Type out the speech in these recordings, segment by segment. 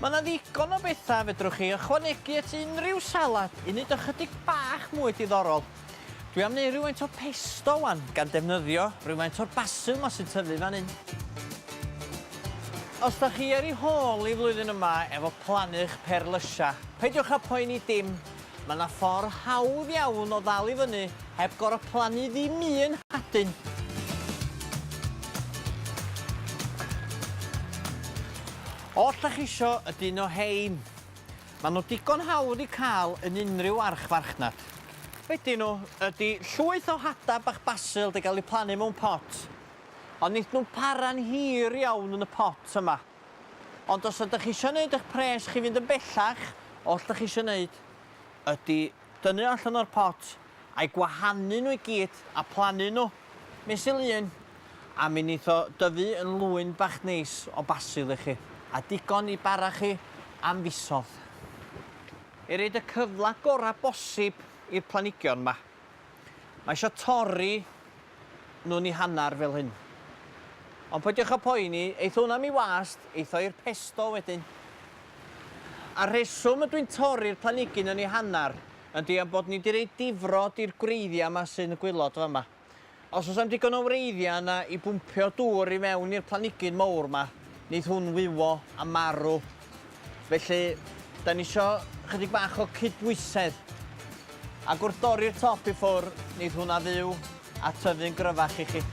Mae yna ddigon o bethau fedrwch chi ychwanegu at unrhyw salad i wneud ychydig bach mwy diddorol. Dwi am wneud rhywfaint o pesto wan, gan defnyddio rhywfaint o'r basil ma sy'n tyfu fan hyn. Os da chi ar ei hôl i flwyddyn yma efo plannu'ch perlysia, peidiwch â poeni dim, Mae 'na ffordd hawdd iawn o ddal i fyny heb gor'o' plannu ddim un hadyn. Os 'dach chi isio y dyn o 'hein, ma' nhw digon hawdd i ca'l yn unrhyw archfarchnad. Be' 'dyn nhw ydi llwyth o hada' bach basil 'di ga'l 'u plannu mewn pot, ond neith nhw'm para'n hir iawn yn y pot yma. Ond os ydych eisiau gwneud eich pres chi fynd yn bellach, oll dych chi eisiau wneud ydy dynnu o allan o'r pot a'i gwahanu nhw i gyd a plannu nhw mesul un a mi wneith o dyfu yn lwyn bach neis o basil i chi a digon i bara chi am fisoedd i roid y cyfle gorau bosib i'r planhigion 'ma. Mae isio torri nhw'n i hanner fel hyn. Ond peidiwch a phoeni, eith hwn am i wast, eith o i'r pesto wedyn. A'r rheswm ydw i'n torri'r planigyn yn i hanner yndi am bod ni di roi difrod i'r gwreiddia ma sy'n y gwilod fama. Os oes am digon o wreiddiau yna i bwmpio dŵr i mewn i'r planigyn mowr ma, neith hwn wywo a marw. Felly, da ni isio chydig bach o cydbwysedd. Ac wrth dorri'r top i ffwr, neith hwnna fyw a tyfu'n gryfach i chi.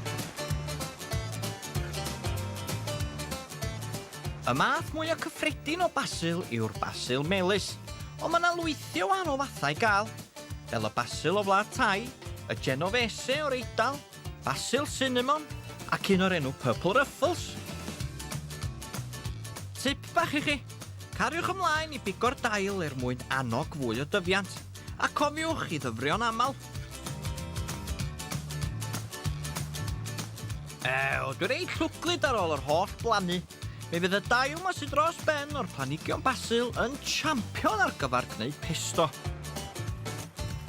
Y math mwya cyffredin o basil yw'r basil melys, ond ma 'na lwythi o wahanol fathau i gael. fel y basil o Wlad Thai, y Genovese o'r Eidal, basil sinamon ac un o'r enw Purple Ruffles. Tip bach i chi, cariwch ymlaen i bigo'r dail er mwyn annog fwy o dyfiant, a cofiwch i ddyfrio'n aml. Ew, dwi'n reit llwglyd ar ôl yr holl blannu. Mi fydd y dail 'ma sy dros ben o'r planhigion basil yn champion ar gyfer gwneud pesto.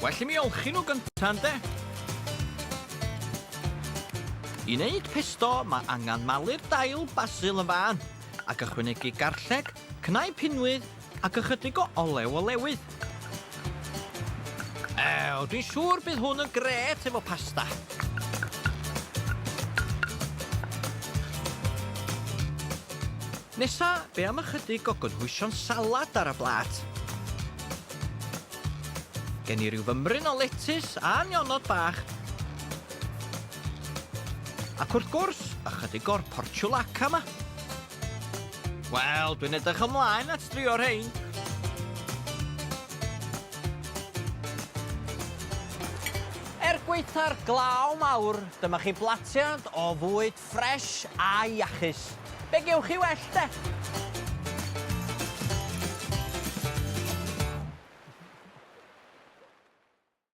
Well i mi olchi nhw gynta ynde? I wneud pesto mae angen malu'r dail basil yn fân ac ychwanegu garlleg, cnau pinwydd Ac ychydig o olew olewydd. Ew, dwi'n siŵr bydd hwn yn grêt efo pasta. Nesa, be am ychydig o gynhwysion salad ar y blat? Gen i ryw fymryn o letys a nionod bach. Ac wrth gwrs, ychydig o'r porciulacca 'ma. Wel, dwi'n edrych ymlaen at drio rhein. Er gwaetha'r glaw mawr, dyma chi blatiad o fwyd ffres a iachus. Be gewch chi well de?